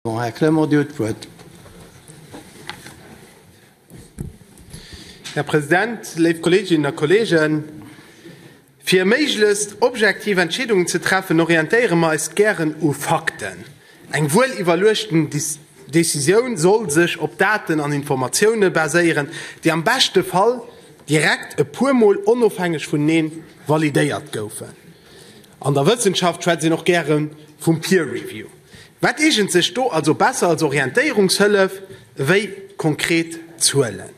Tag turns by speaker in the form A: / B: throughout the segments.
A: Här Clement, Dir huet d'Wuert.
B: Här President, léif Kolleeginnen a Kolleegen, fir méiglechst objektiv Entscheedungen ze treffen, orientéiere mer eis gären u Fakten. Eng wuel iwwerluechten Decisioun soll sech op Daten an Informatioune baséieren, déi am beschte Fall direkt e puermol onofhängeg vuneneen validéiert goufen. An der Wëssenschaft schwätzt een och gäre vum Peer Review. Wat eegent sech do also besser als Orientéierungshëllef ewéi konkret Zuelen?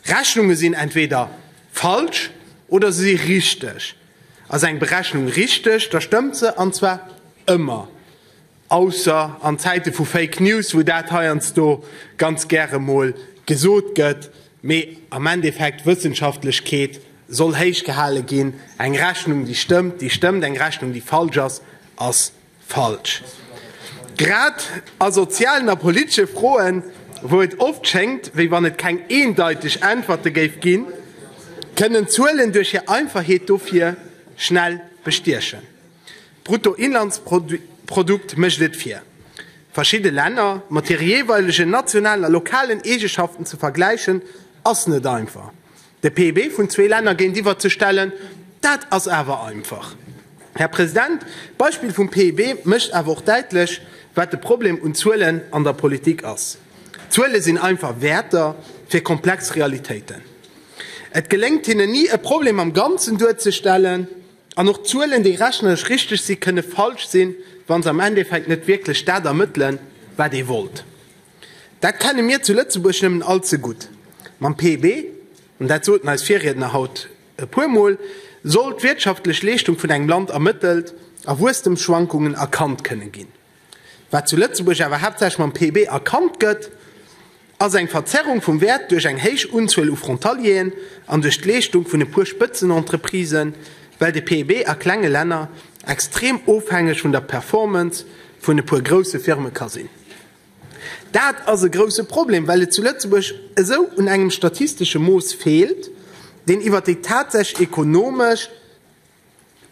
B: Rechnunge sinn entweeder falsch oder se si richteg. Ass eng Berechnung richteg, da stëmmt se, an zwar ëmmer. Ausser an Zäite vu Fake News, wou dat heiansdo ganz gäre mol gesot gëtt, Mee am Endeffekt, d'Wëssenschaftlechkeet soll héich gehale ginn. Eng Rechnung, déi stëmmt, déi stëmmt, eng Rechnung, déi falsch ass, ass falsch. Grad a sozialen a politesche Froen, wou et oft schéngt, wéi wann et keng eendeiteg Äntwerte géif ginn, kënnen d'Zuelen duerch hir Einfachheet dofir schnell bestiechen. D'Bruttoinlandsprodukt mécht et fir, verschidde Länner mat hire jeeweilegen nationalen a lokalen Eegeschaften ze vergläichen, ass net einfach. De PIB vun zwee Länner géintiwwer ze stellen, dat ass awer einfach. Här President, d'Beispill vum PIB mécht awer och däitlech, wat de Problem un Zuelen an der Politik ass. Zuele sinn einfach Wäerter fir komplex Realitéiten. Et geléngt hinnen ni, e Problem am Ganzen duerzestellen. An och Zuelen, déi rechnerlech richteg sinn, kënne falsch sinn, wa se am Endeffekt net wierklech dat ermëttelen, wat ee wollt. Dat kenne mir zu Lëtzebuerg nëmmen all ze gutt. Mam PIB, an dat soten eis Virriedner haut e puer Mol, soll d'wirtschaftlech Leeschtung vun engem Land ermëttelt a Wuesstemsschwankungen erkannt kënne ginn. Wat zu Lëtzebuerg awer haaptsächlech mam PIB erkannt gëtt, ass eng Verzerrung vum Wäert duerch eng héich Unzuel u Frontalieren an duerch d'Leeschtung vun e puer Spëtzenentreprisen, well de PIB a klenge Länner extrem ofhängeg vun der Performance vun e puer grousse Firme ka sinn. Dat ass e grousse Problem, well et zu Lëtzebuerg esou un engem statistesche Mooss feelt, deen iwwer déi tatsächlech ekonomesch.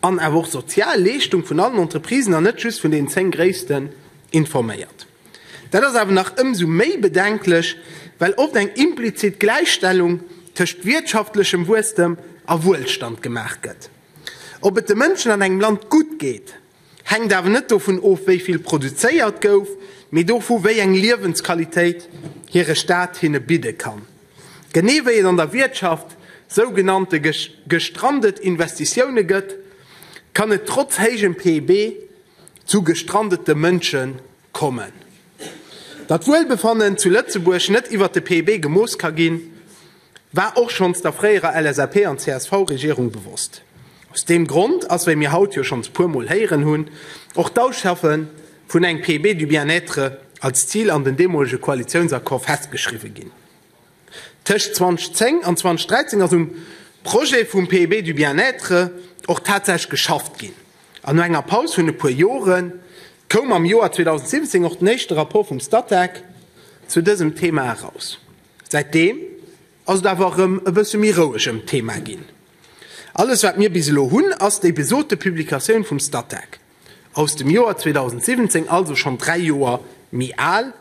B: an awer och sozial Leeschtung vun allen Entreprisen an net just vun den 10 gréissten, informéiert. Dat ass awer nach ëmsou méi bedenklech, well oft eng implizit Gläichstellung tëscht wirtschaftlechem Wuesstem a Wuelstand gemaach gëtt. Ob et de Mënschen an engem Land gutt geet, Hänkt awer net dovun of, wéi vill produzéiert gouf, mee dovu, wéi eng Liewensqualitéit hire Staat hinne bidde kann. Genee wéi et an der Wiertschaft sougenannte gestrandet Investitioune gëtt, kann et trotz héijem PIB zu gestrandete Mënsche kommen. Datt Wuelbefannen zu Lëtzebuerg net iwwer de PIB gemooss ka ginn, War och schonns der fréierer LSAP an CSV-Regierung bewosst. Aus deem Grond ass, wéi mir haut jo schonns puer Mol héieren hunn, och d'Ausschaffe vun eng PB du bien-être als Zil an den deemolege Koalitiounsaccord festgeschriwwe ginn. Tëscht 2010 an 2013 ass um Projet vum PB du bien-être och tatsächlech geschafft ginn an no enger Paus vun e puer Jore koum am Joer 2017 och den éischte Rapport vum Statec zu dësem Thema eraus. Säitdeem ass et awer erëm e bësse méi roueg ëm d'Thema ginn. Alles wat mir bis elo hunn, ass déi besote Publikatioun vum Statec aus dem Joer 2017, also schonn dräi Joer méi al,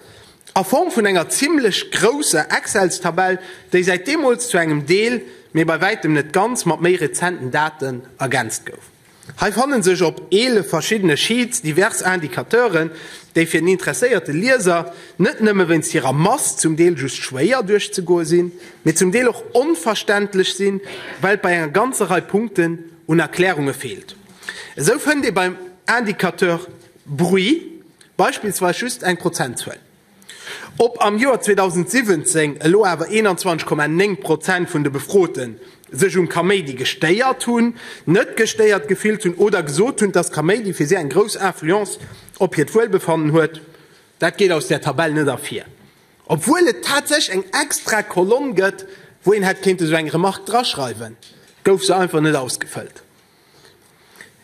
B: a Form vun enger zimmlech grousser Excelstabell, déi säit deemools zu engem Deel, mee bei wäitem net ganz, mat méi rezenten Daten ergänzt gouf. Hei fannen sech op 11 verschiddene Sheets divers Indicateuren, déi fir den interesséierte Lieser net nëmme wéinst hirer Mass zum Deel just schwéier duerchzegoe sinn, mee zum Deel och onverständlech sinn, well et bei enger ganzer Rei Punkten un Erklärunge feelt. Esou fënnt ee beim Indicateur Bruit beispillsweis just eng Prozentzuel. Ob am Joer 2017 elo awer 21,9 Prozent vun de Befrote sech um Kaméidi gestéiert hunn, net gestéiert gefillt hunn oder gesot hunn, dass Kaméidi fir si eng grouss Influence op hiert Wuelbefannen huet, dat geet aus där Tabell net ervir, obwuel et tatsächlech eng extra Kolonn gëtt, wou een hätt kéinte sou eng Remark draschreiwen, gouf se einfach net ausgefëllt.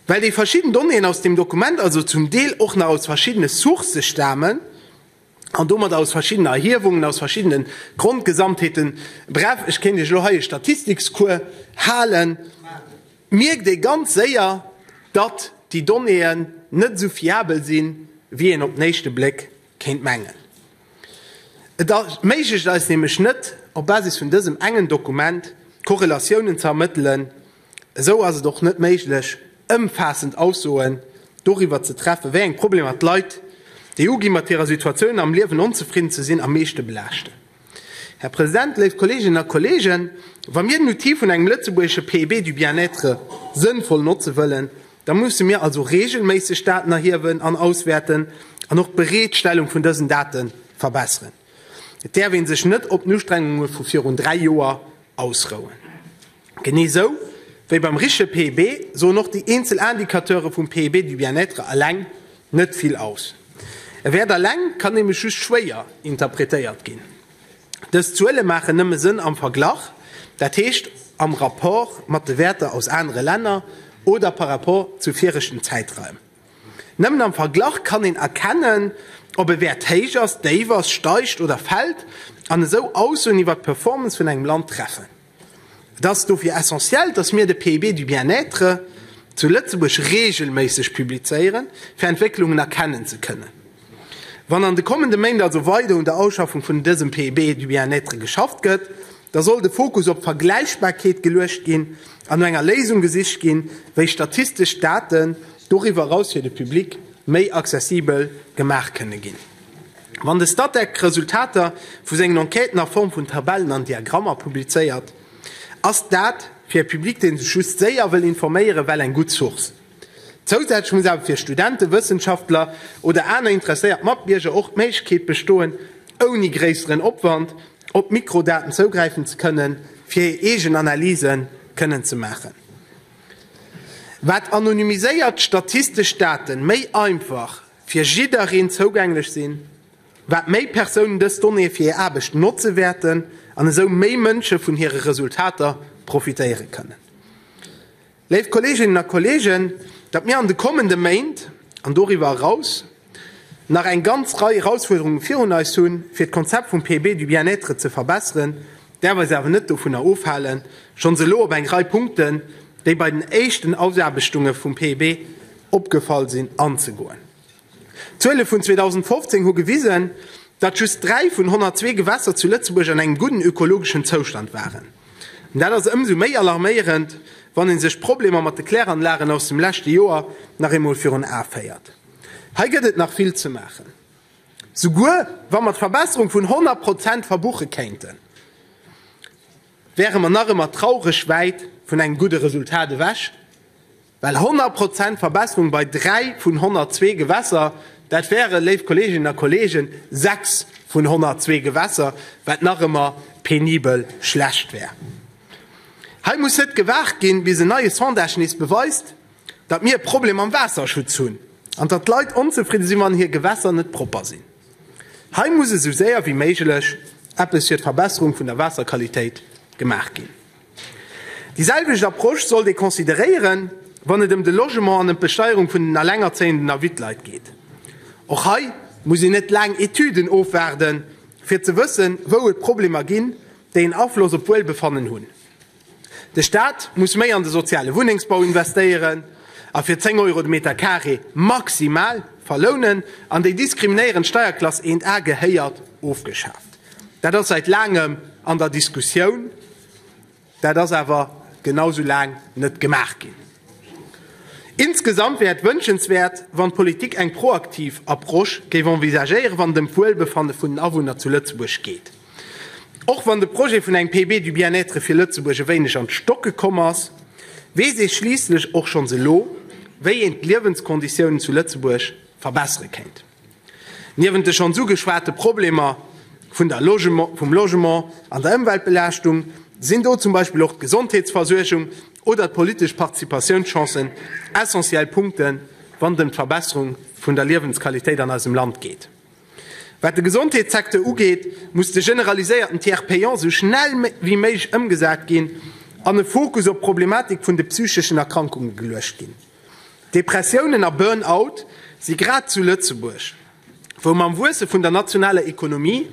B: Well déi verschidden Donnéeën aus deem Dokument also zum Deel och nach aus verschiddene Sourcë stamen an domat aus verschiddenen Erhiewungen, aus verschiddene Grondgesamtheeten, bref, ech kéint Iech elo hei e Statistikscours halen, mierkt ee ganz séier, datt déi Donnéeën net esou fiabel sinn, wéi een op den éischte Bléck kéint mengen. Et erméiglecht eis nämlech net, op Basis vun dësem engen Dokument Korrelatiounen ze ermëttelen, Esou ass et och net méiglech, ëmfaassend Aussoen doriwwer ze treffen, wéi eng Problemer d'Leit, déi uginn, mat hirer Situatioun am Liewen onzefridden ze sinn, am meeschte belaaschten. Här President, léif Kolleeginnen a Kolleegen, wa mir den Outil vun engem lëtzebuergesche PEB du bien-être sënnvoll notze wëllen, da musse mir also reegelméisseg Daten erhiewen an auswäerten an och d'Bereetstellung vun dësen Date verbesseren. Et däerf ee sech net op den Ustrengunge vu virun dräi Joer ausrouen. Genee sou wéi beim riche PIB soen och déi eenzel Indicateure vum PIB du bien-être eleng net vill aus. E Wäert eleng kann nämlech just schwéier interpretéiert ginn. Dës Zuele maachen nëmme Sënn am Verglach, dat heescht am Rapport mat de Wäerter aus anere Länner oder par rapport zu viregten Zäitraim. Nëmmen am Verglach kann een erkennen, ob e Wäert héich ass, déif ass, steigt oder fällt an esou Aussoen iwwer d'Performance vun engem Land treffen. Et ass dofir essentiell, dass mir de PIB du bien-être zu Lëtzebuerg reegelméisseg publizéieren, fir Entwécklungen erkennen ze kënnen. Wann an de kommende Méint also weider un der Ausschaffung vun dësem PIB du bien-être geschafft gëtt, da soll de Fokus op d'Vergläichbarkeet geluecht ginn an no enger Léisung gesicht ginn, wéi statistesch Daten doriwwer eraus fir de Public méi accessibel gemaach kënne ginn. Wann de Statec d'Resultater vu sengen Enquêten a Form vun Tabellen an Diagrammer publizéiert, ass dat fir e Public, dee sech just séier wëll informéieren, well eng gutt Source. Zousätzlech muss awer fir Studenten, Wëssenschaftler oder aner interesséiert Matbierger och d'Méiglechkeet bestoen, ouni gréisseren Opwand op d'Mikrodaten zougräifen ze kënnen, fir hir eegen Analyse kënnen ze maachen. Wat anonymiséiert statistesch Date méi einfach. fir jiddereen zougänglech sinn, wat méi Persounen dës Donnéeë fir hir Aarbecht notze wäerten an esou méi Mënsche vun hire Resultater profitéiere kënnen. Léif Kolleeginnen a Kolleegen, datt mir an de kommende Méint an doriwwer eraus nach eng ganz Rei Erausfuerderunge virun eis hunn, fir d'Konzept vum PB du bien-être ze verbesseren, däerf eis awer net dovunner ofhalen, schonns elo op eng Rei Punkten, déi bei den éischten Ausaarbechtunge vum PEB opgefall sinn, anzegoen. D'Zuele vun 2015 hu gewisen, datt just dräi vun 102 Gewässer zu Lëtzebuerg an engem gudden ökologeschen Zoustand waren. An dat ass ëmsou méi alarméierend, wann ee sech d'Problemer mat de Kläranlagen aus dem leschte Joer nach eemol virun Ae féiert. Hei gëtt et nach vill ze maachen. Souguer wa mer d'Verbesserung vun 100 Prozent verbuche kéinten, wäre mer nach ëmmer traureg wäit vun engem gudde Resultat ewech, well 100 Prozent Verbesserung bei dräi vun 102 Gewässer, dat wäre, léif Kolleeginnen a Kolleegen, sechs vun 102 Gewässer, wat nach ëmmer penibel schlecht wär. Hei muss net gewaart ginn, bis en neie Sondage nees beweist, datt mir e Problem mam Waasserschutz hunn an datt d'Leit onzefridde sinn, wann hir Gewässer net propper sinn. Hei muss esou séier wéi méiglech eppes fir d'Verbesserung vun der Waasserqualitéit gemaach ginn. Déi selwecht Approche sollt ee consideréieren, wann et ëm de Logement an ëm d'Besteierung vun den Allengerzéienden a Wittleit geet. Och hei muss een net laang Etüden ofwaarden, fir ze wëssen, wou et Problemer ginn, déi en Afloss op d'Wuelbefannen hunn. De Staat muss méi an de soziale Wunnengsbau investéieren a fir 10 Euro de Meter Carré maximal verlounen. An déi diskriminéierend Steierklass 1 A gehéiert ofgeschaaft. Dat ass säit laangem an der Diskussioun, dat ass awer genau esou laang net gemaach ginn. Insgesamt wär et wënschenswäert, wann d'Politik eng proaktiv Approche géif envisagéieren, wann et ëm d'Wuelbefanne vun den Awunner zu Lëtzebuerg geet. Och wann de Projet vun engem PB du Bien-être fir Lëtzebuerg e wéineg an d'Stocke komm ass, weess ee schliisslech och schonns elo, wéi een d'Liewenskonditiounen zu Lëtzebuerg verbessere kéint. Niewent de schonns ugeschwate Problemer vun der Logement, vum Logement an der Ëmweltbelaaschtung sinn do zum Beispill och d'Gesondheetsversuergung oder d'politesch Participatiounschancen essentiell Punkten, wann et ëm d'Verbesserung vun der Liewensqualitéit an eisem Land geet. Wat de Gesondheetssecteur ugeet, muss de generaliséierten Tiers payant esou schnell wéi méiglech ëmgesat ginn an e Fokus op d'Problematik vun de psycheschen Erkrankunge geluecht ginn. Depressiounen a Burn-out si grad zu Lëtzebuerg, wou mam Wuesse vun der nationaler Ekonomie,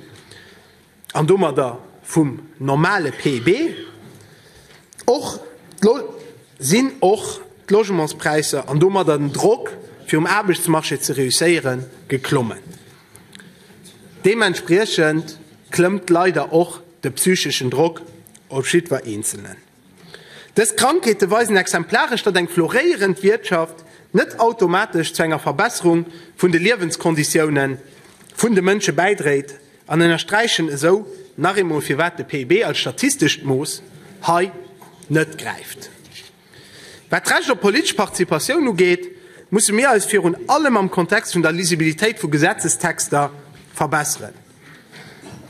B: an domadder vum normale PIB, och sinn och d'Logementspräisser an domadder den Drock fir um Aarbechtsmarché ze reusséieren geklommen. Deementspriechend klëmmt leider och de psycheschen Drock op jiddwer Eenzelnen. Dës Krankheete weisen exemplaresch, datt eng floréierend Wiertschaft net automatesch zu enger Verbesserung vun de Liewenskonditioune vun de Mënsche bäidréit an ënnersträichen esou nach eemol, firwat de PIB als statistescht Mooss hei net gräift. Wat d'Recht op politesch Participatioun ugeet, musse mir eis virun allem am Kontext vun der Lisibilitéit vu Gesetzestexter verbesseren.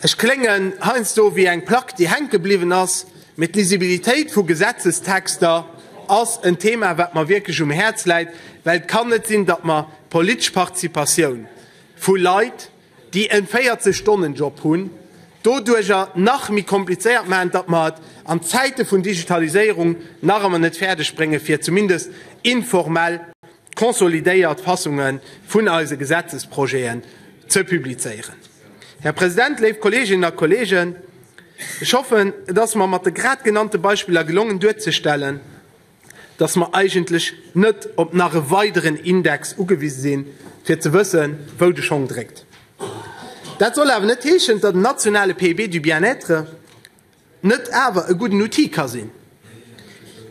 B: Ech kléngen heiansdo ewéi eng Plack, déi hänke bliwwen ass. Mee d'Lisibilitéit vu Gesetzestexter ass en Thema, wat mer wierklech um Häerz läit, well et kann net sinn, datt mer d'politesch Participatioun vu Leit, déi e 40 Stonnen-Job hunn, doduerjer nach méi komplizéiert maachen, datt mer et an Zäite vun Digitaliséierung nach ëmmer net fäerdeg bréngen, fir zumindest informell consolidéiert Fassunge vun eise Gesetzesprojeten ze publizéieren. Här President, léif Kolleeginnen a Kolleegen, ech hoffen, et ass mer mat de grad genannte Beispiller gelongen duerzestellen, dass mer eigentlech net op nach e weideren Index ugewise sinn, fir ze wëssen, wou de Schong dréckt. Dat soll awer net heeschen, dass den nationale PIB du bien-être net awer e gudden Outil ka sinn,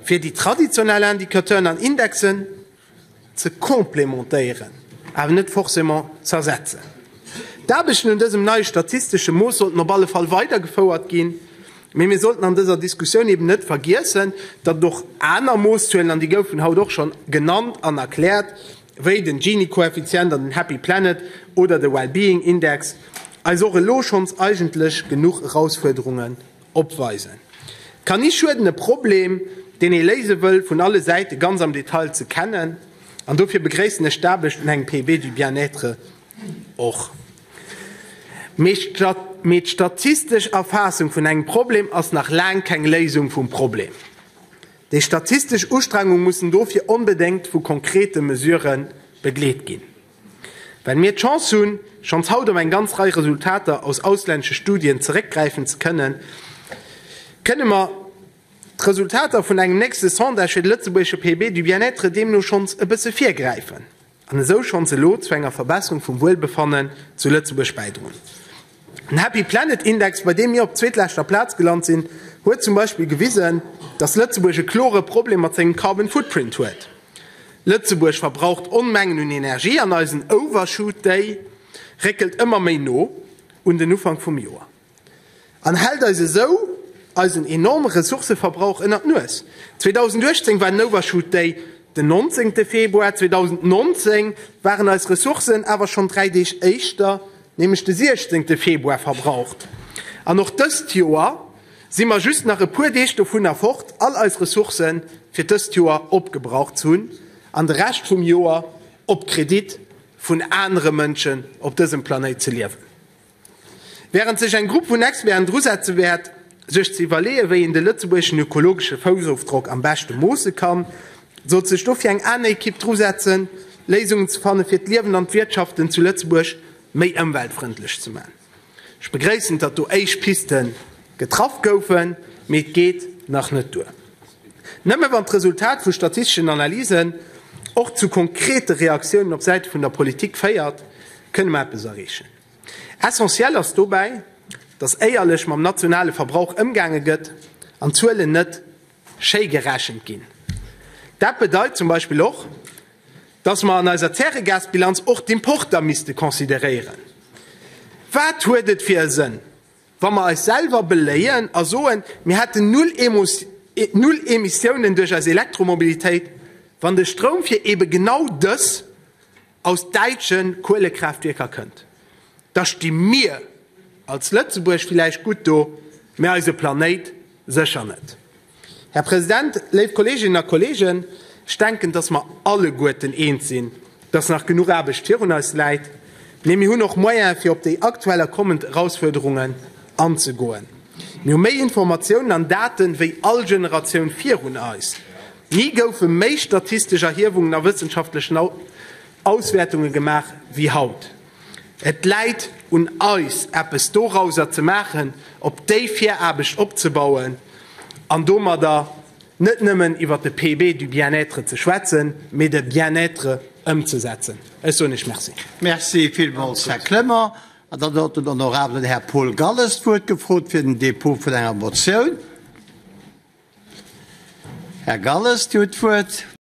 B: fir déi traditionell Indicateuren an Indexen ze complémentéieren, awer net forcément z'ersetzen. D'Aarbechten un dësem neie statistesche Mooss sollten op alle Fall weidergefouert ginn, mee mir sollten an dëser Diskussioun eben net vergiessen, datt et och aner Mooszuelen, an déi goufen haut och schonn genannt an erkläert, wéi den Gini-Koeffizient an den Happy Planet oder de Wellbeing Index, eis och elo schonns eigentlech genuch Erausfuerderungen opweisen. Et kann ni schueden, e Problem, deen ee léise wëll, vun alle Säite ganz am Detail ze kennen. An dofir begréissen ech d'Aarbecht un engem PEB du bien-être och. Mee d'statistesch Erfaassung vun engem Problem ass nach laang keng Léisung vum Problem. Déi statistesch Ustrengung mussen dofir onbedéngt vu konkrete Mesurë begleet ginn. Well mir d'Chance hunn, schonns haut op eng ganz Rei Resultater aus auslännesche Studien zeréckgräifen ze kënnen, kënne mer d'Resultater vun engem nächste Sondage fir de lëtzebuergesche PB du Bien-être deemno schonns e bësse virgräifen. an esou schonns elo zu enger Verbesserung vum Wuelbefannen zu Lëtzebuerg bäidroen. Den Happy Planet Index, bei deem mir op zweetleschter Plaz gelant sinn, huet zum Beispill gewisen, dass Lëtzebuerg e klore Problem mat sengem Carbon Footprint huet. Lëtzebuerg verbraucht Onmengen un Energie an eisen Overshoot Day réckelt ëmmer méi no un den Ufank vum Joer. An hält eis esou eisen enorme Ressourcëverbrauch ënner d'Nues. 2018 war den Overshoot Day den 19 Februar, 2019 waren eis Ressourcen awer schonn 3 Deeg éischter, nämlech de 16 Februar verbraucht. An och dëst Joer si mer just nach e puer Deeg dovunner fort all eis Ressourcë fir dëst Joer opgebraucht ze hunn an de Rescht vum Joer op Kredit vun anere Mënschen op dësem Planéit ze liewen. Wärend sech eng Grupp vun Experten dru setze wäert, sech ze iwwerleeën, wéi een de lëtzebuergeschen ökologesche Foussofdrock am beschte moosse kann, sollt sech dofir eng aner Ekipp dru setzen, Léisungen ze fanne fir d'Liewen an d'Wirtschaften zu Lëtzebuerg méi ëmweltfrëndlech ze maachen. Ech begréissen, datt do éischt Piste getraff goufen, mee et geet nach net duer. Nëmme wann d'Resultat vu statisteschen Analysen och zu konkrete Reaktiounen op Säite vun der Politik féiert, kënne mer eppes erreechen. Essentiell ass dobäi, datt éierlech mam nationale Verbrauch ëmgaange gëtt an d'Zuelen net schéi gerechent ginn. Dat bedeit zum Beispill och, datt mer an eiser Zäregasbilanz och d'Importer misste consideréieren. Wat huet et fir e Sënn, wa mer eis selwer beléien a soen, mir hätten Null Emissiounen duerch eis Elektromobilitéit, wann de Stroum fir eebe genau dës, aus däitsche Kuelekraaftwierker kënnt, da sti mir als Lëtzebuerg villäicht gutt do, mä eise Planéit sécher net. Här President, léif Kolleeginnen a Kolleegen, ech denken, dass mer alleguerten eens sinn, dass nach genuch Aarbecht virun eis läit, mä mir hunn och Moyene fir op déi aktuell a kommend Erausfuerderungen anzegoen. Mir hu méi Informatiounen an Date wéi all Generatioun virun eis. Ni goufe méi statistesch Erhiewungen a wëssenschaftlechen Auswäertunge gemaach wéi haut. Et läit un eis, eppes dorauser ze maachen, op déi Viraarbecht opzebauen an domadder net nëmmen iwwer de PB du bien-être ze schwätzen, mee de Bien-être
A: ëmzesetzen.
B: Ech
A: soen Iech
B: Merci. Merci
A: villmools,
B: Här
A: Clement.
B: An
A: dann huet den honorabelen Här Paul Galles d'Wuert gefrot fir den Dépôt vun enger Motioun. Här Galles, Dir hutt d'Wuert.